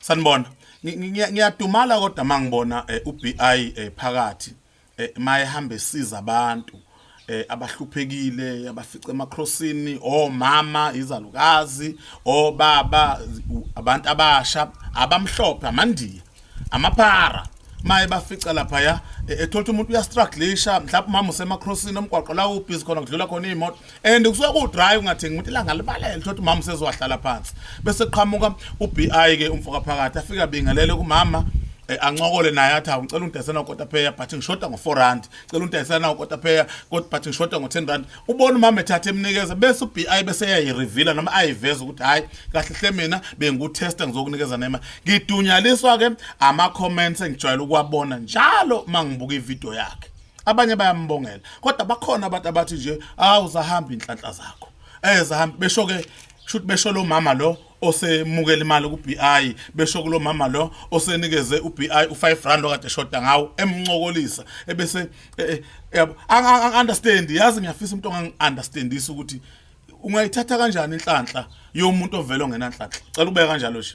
sanibona ngiyadumala kodwa mangibona eh, uBI eh, phakathi eh, mayehamba esiza abantu abahluphekile abafice emacrossini omama izalukazi obaba abantu abasha abamhlophe amandiya amaphara maye bafica lapha ya e, ethola umuntu uyastrugglisha mhlawumbe umama usemacrossini omgwaqo la ubhizi khona kudlula khona iy'moto and kusuke kuwudrive ungathengi umuntu ilanga libalele thola umama usezowahlala phansi bese kuqhamuka ubi ke umfoka phakathi afike abingelele kumama Eh, ancokole naye athi awungicela ungidayisela ukotapheya but ngishoda ngo-four rand cela ungidayisela nawo ukotapheya but ngishoda ngo-ten rand ubona umama ethatha emnikeza bese ubi bese eyayirivila noma ayiveza ukuthi hhayi kahle hle mina bengikutesta ngizokunikeza nema ngidunyaliswa-ke ama-comments engijwayele ukuwabona njalo uma ngibuka ividiyo yakhe abanye bayambongela kodwa bakhona abantu abathi nje awu zahamba inhlanhla zakho eh zahamba besho ke shuthi besho lo mama lo osemukela imali ku-BI besho kulo mama lo osenikeze u-BI u-5 rand okade eshoda ngawo emncokolisa ebese eh, eh, yabo angi understand yazi ngiyafisa umuntu ongangi understandisa ukuthi ungayithatha kanjani inhlanhla yomuntu ovele ongenanhlanhla cela ubeka kanjalo nje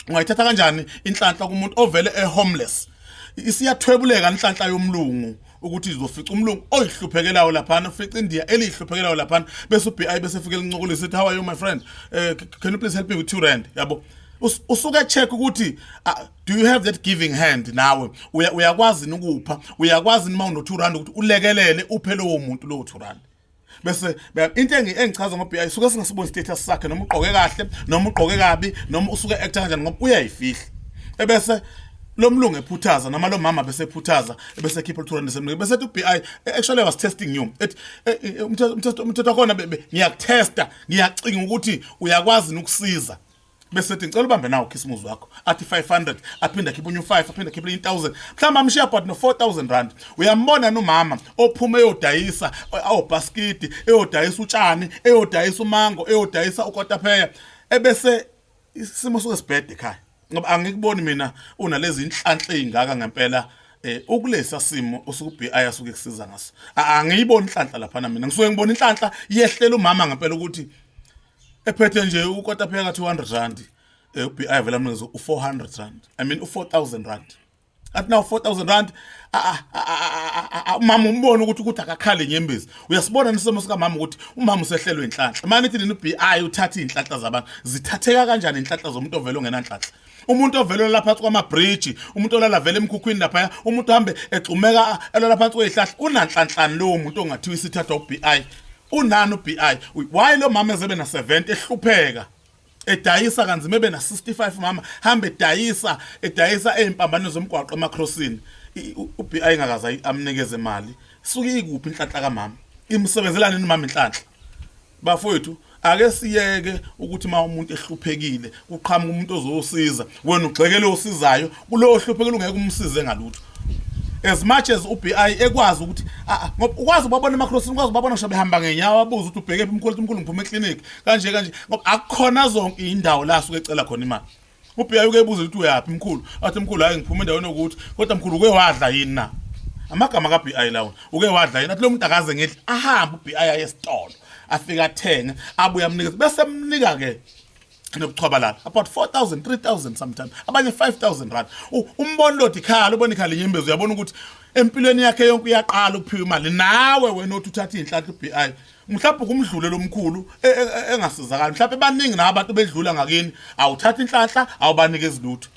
ungayithatha kanjani inhlanhla kumuntu ovele e homeless isiyathwebuleka inhlanhla yomlungu ukuthi izofica umlungu oyihluphekelayo laphana ufica india eliyihluphekelayo laphana bese ubi bese fike lincokole sithi how are you my friend uh, can you please help me with 2 rand yabo usuke check ukuthi do you have that giving hand nawe uyakwazi uya ukupha uyakwazi uma uno 2 rand ukuthi ulekelele uphe lowo muntu lowo 2 rand bese into engichaza ngoBI suke singasiboni status sakhe noma ugqoke kahle noma ugqoke kabi noma usuke actor kanjani ngoba uyayifihla ebese lo mlungu ephuthaza noma lo mama bese ephuthaza bese khipha luthola nesemlungu bese ethi uBI actually I was testing you ethi eh, eh, umthetho umthetho khona ngiyakutesta ngiyacinga ukuthi uyakwazi ukusiza bese ethi ngicela ubambe nawo khisimuzi wakho athi 500 aphinde akhiphe unye u5 aphinde akhiphe 1000 mhlawumbe amshiya but no 4000 rand uyambona nomama ophuma eyodayisa awobhaskidi eyodayisa utshani eyodayisa umango eyodayisa ukotapheya ebese isimo soke sibhede ekhaya ngoba angikuboni mina unalezi inhlanhla ezingaka ngempela eh ukulesa simo usukubi ayasuke kusiza ngaso angiyiboni inhlanhla lapha mina ngisuke ngibona inhlanhla yehlela umama ngempela ukuthi ephethe nje ukota pheka 200 rand eh, ubi avela mnikezo u400 rand i mean u4000 rand athi nawo 4000 rand umama umbona ukuthi ukuthi akakhale nyembezi uyasibona nesimo sikamama ukuthi umama usehlelwe inhlanhla manje ithi nina ubi uthatha izinhlanhla zabantu zithatheka kanjani inhlanhla zomuntu ovela ongenanhlanhla umuntu ovele olala phansi kwamabhriji umuntu olala vele emkhukhwini laphaya umuntu uhambe egxumeka elala phansi kweyihlahla unanhlanhlani lowo muntu ongathiwa isithathwa ubi unani ubi why lo mama ezebe na 70 ehlupheka edayisa kanzima ebe na 65 mama hambe edayisa edayisa ezimpambano zomgwaqo emacrossini ubi ngakaza amnikeze imali suke ikuphi inhlanhla kamama imsebenzelana nomama inhlanhla bafowethu ake siyeke ukuthi uma umuntu ehluphekile kuqhamuka umuntu ozosiza wena ugxekele osizayo kulowo hluphekile ungeke umsize ngalutho as much as uBI ekwazi ukuthi ah, ah, ngoba ukwazi ubabona emakrossini ukwazi ubabona ngisho behamba ngenyawo abuze ukuthi ubheke phi umkhulu umkhulu ngiphuma eclinic kanje kanje ngoba akukhona zonke indawo la suke ecela khona imali ubheka uke ebuza ukuthi uyaphi mkhulu athi mkhulu hayi ngiphuma endaweni yokuthi kodwa mkhulu uke wadla yini na amagama ka BI lawo uke wadla yini athi lo muntu akaze ngedli ahambe uBI aye esitolo afika athenge abuye amnikeze bese mnika ke nobuchwaba lana about 4000 3000 sometimes abanye 5000 rand umbona lodi khala ubona ikhala inyembezi uyabona ukuthi empilweni yakhe yonke uyaqala ukuphiwa imali nawe wena othi uthatha izinhlanhla uBI mhlawumbe kumdlule lomkhulu e, e, e, engasizakali mhlawumbe baningi na abantu bedlula ngakini awuthatha inhlanhla awubanike izilutho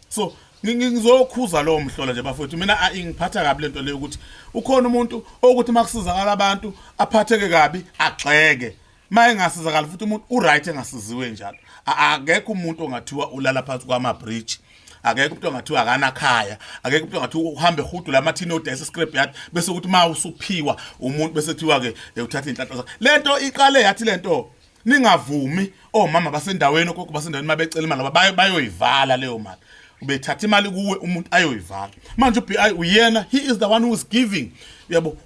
so ngizokhuza lowo mhlola nje bafowethu mina ingiphatha kabi lento leyo ukuthi ukhona umuntu okuthi makusizakala abantu aphatheke kabi agxeke maye ngasizakala futhi umuntu uright engasiziwe njalo akekho umuntu ongathiwa ulala phansi kwama bridge akekho umuntu ongathiwa akanakhaya akekho umuntu ongathi uhambe hudu la mathini odayisa scrap yard bese ukuthi ma usuphiwa umuntu bese kuthiwa ke eh, uthatha inhlanhla zakhe lento iqale yathi lento ningavumi omama basendaweni ogogo basendaweni mabecela imali ngoba bayoyivala leyo mali ubethatha imali kuwe umuntu ayoyivala manje ubi uyena he is the one who is giving uyabo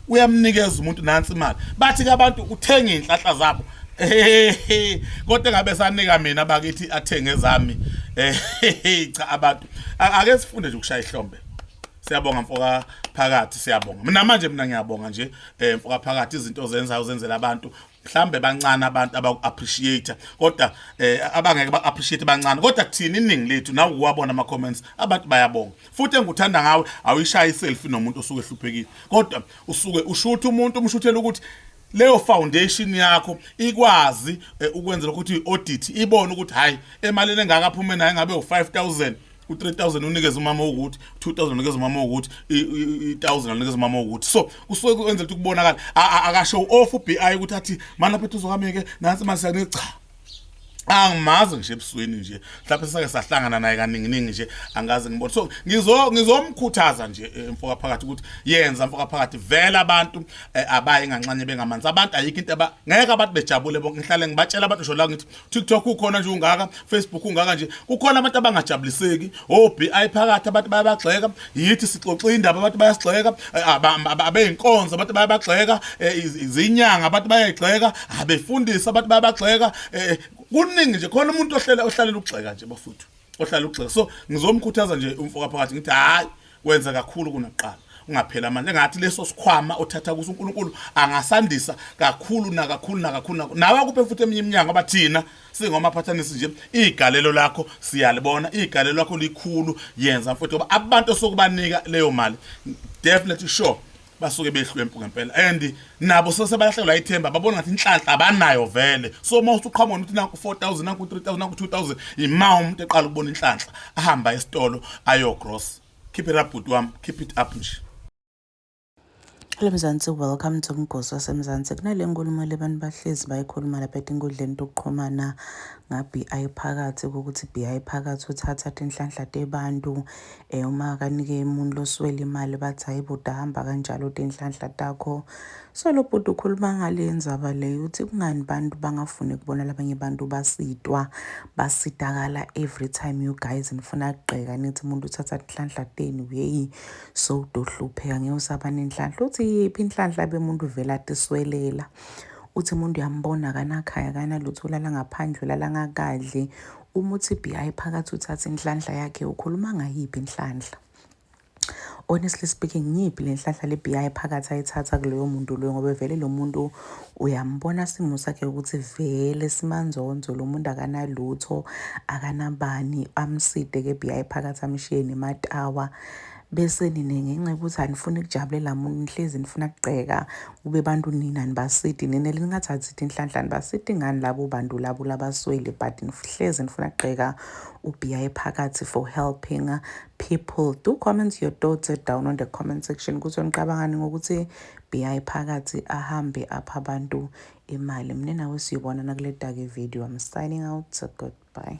uyamnikeza umuntu nansi imali bathi ke abantu uthenga inhlahla zabo kodwa ngabe sanika mina bakithi athenge zami eh cha abantu ake sifunde nje ukushaya ihlombe siyabonga mfoka phakathi siyabonga mina manje mina ngiyabonga nje eh, mfoka phakathi izinto ozenzayo uzenzela abantu mhlambe bancane abantu abaku-appreciate kodwa eh, abangeke ba-appreciate bancane kodwa kuthini iningi lethu nawe uwabona ama-comments abantu bayabonga futhi engikuthanda ngawe awuyishaye iselfie nomuntu osuke ehluphekile kodwa usuke ushutha umuntu umshuthela ukuthi leyo foundation yakho ikwazi eh, ukwenzela ukuthi i-audit ibone ukuthi hhayi emalini engaka aphume nayo ngabe u-5000 u-3000 unikeza umama wokuthi 2000 unikeza umama wokuthi i-1000 unikeza umama wokuthi so kusuke kwenzela ukuthi kubonakala akasho off ubi ukuthi athi mana phethu uzokameke nansi manje siyanika cha angimazi nje ebusweni nje mhlawumbe sisake sahlangana naye kaninginingi nje angazi ngibona so ngizo ngizomkhuthaza nje eh, mfoka phakathi ukuthi yenza mfoka phakathi vela abantu eh, abaye nganxanye bengamanzi abantu ayikho into aba ngeke abantu bejabule bonke ngihlale ngibatshela abantu ngisho la ngithi TikTok ukhona nje ungaka, Facebook ungaka nje. Kukhona abantu abangajabuliseki, oBI oh, phakathi abantu bayabagxeka, yithi sixoxa indaba abantu bayasigxeka, eh, abeyinkonzo abantu bayabagxeka, eh, izinyanga abantu bayayigxeka, abefundisi abantu bayabagxeka. Eh, kuningi nje khona umuntu ohlele ohlalela ukugxeka nje bafuthu. Ohlala ukugxeka. So ngizomkhuthaza nje umfoka phakathi ngithi hayi wenza kakhulu kunakuqala ungaphela amandla engathi leso sikhwama othatha kuso uNkulunkulu angasandisa kakhulu nakakhulu nakakhulu nawe akuphe futhi eminye iminyango abathina singomaphathanisi nje igalelo lakho siyalibona igalelo lakho likhulu yenza futhi ngoba abantu sokubanika leyo mali definitely sure basuke behlwempu ngempela and nabo sese bayahlekelwa ithemba babona ngathi inhlanhla abanayo vele so uma usuqhamuka nokuthi naku 4000 naku 3000 naku 2000 ima umuntu eqala ukubona inhlanhla ahamba esitolo ayo gross keep it up bhuti wami keep it up nje Hello Mzansi, welcome to Mgosi waseMzansi. Kunale nkulumo le bantu bahlezi bayikhuluma lapha etinkundleni tokuxhumana nga-BI phakathi ukuthi BI phakathi uthatha tinhlanhla tebantu Eh, uma akanike umuntu loswela imali bathi hayi bhuti ahamba kanjalo tinhlanhla takho so lo bhuti ukhuluma ngale ndzaba leyo uthi kungani bantu bangafuni kubona labanye bantu basitwa basitakala every time you guys nifuna kugqeka nithi umuntu uthatha tinhlanhla tenu yeyi so udohlupheka ngeke usaba nenhlanhla uthi yiphi inhlanhla bemuntu vela tiswelela uthi umuntu uyambona akanakhaya akanalutho ulala ngaphandle ulala ngakadli Uma uthi BI phakathi uthatha inhlanhla yakhe ukhuluma ngayiphi inhlanhla? honestly speaking ngiyiphi le nhlahla le BI phakathi ayithatha kuloyo muntu loyo ngoba vele lo muntu uyambona simo sakhe ukuthi vele simanzonzo lo muntu akanalutho akanabani amside ke BI phakathi amshiye nematawa bese nina ngenxa yokuthi anifuni kujabulela muntu nihlezi nifuna kugqeka kube bantu nina nibasidi nina lingathathi ithi inhlanhla nibasidi ngani labo bantu labo labaswele but nihlezi nifuna kugqeka ubiya ephakathi for helping people do comment your thoughts down on the comment section ukuthi nicabangani ngokuthi biya ephakathi ahambe apha abantu imali mina nawe siyobonana kule dake video i'm signing out goodbye